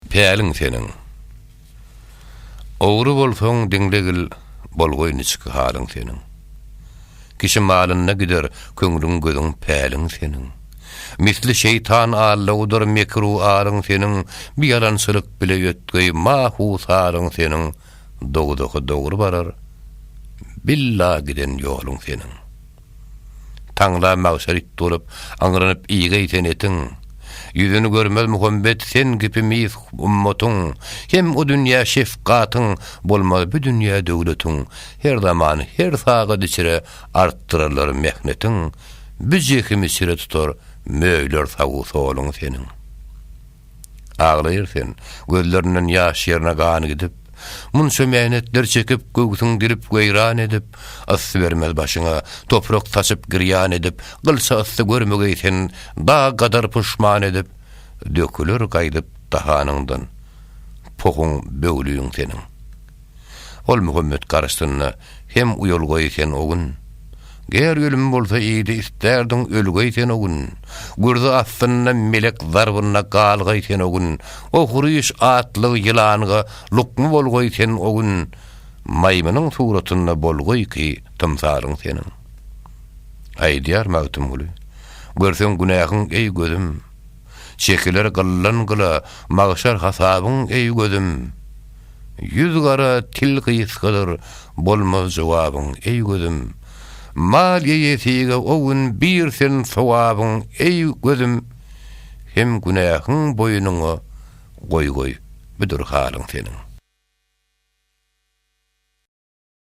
Päliň seniň. Ogry bolsaň diňlegil bolgoý niçik halyň seniň. Kişi malynda gider köňlüň gözüň päliň seniň. Misli şeýtan allawudyr mekru aryň seniň bir ýalançylyk bile ötgeý mahu saryň seniň dowzaha dogry barar billa giden ýoluň seniň. Taňla magşar it bolup, aňranyp iýge ýiten etiň. Ýüzüni görmez Muhammet sen kipi mis ummatyň, hem o dünýä şefgatyň, bolmaz bu dünýä döwletiň. Her zaman, her sagat içre artdyrarlar mehnetiň, bu jehimi çire tutar möýler sagu-soluň seniň. Aglaýar sen, gözlerinden ýaş ýerine gan gidip, Munça mähnetler çekip, göwsüň dilip, weýran edip, Yssy bermez başyňa, toprak saçyp, girýan edip, Gylça yssy görmegeý sen, dag gadar puşman edip, Döküler gaýdyp dahanyňdan, pohuň, böwlügiň seniň. Ol Muhammet garşysynda hem uýalgaý sen o gün. Ger ölüm bolsa idi isterdiň ölgäý sen o gün. Gürzi astynda melek zarbynda galgaý sen o gün. Ohryş atly ýylanga lukma bolgaý sen o gün. Maýmynyň suratynda bolgaý ki tymsalyň seniň. Aýdýar Magtymguly, Görseň günähiň eý gözüm, Çekiler gyllan gyla, Magşar hasabyň eý gözüm. Ýüz gara til gysgadyr bolmaz jogabyň eý gözüm Mal ýeýesige o gün bir sen sogabyň eý gözüm Hem günähiň boýnuňa goý goý budur halyň seniň.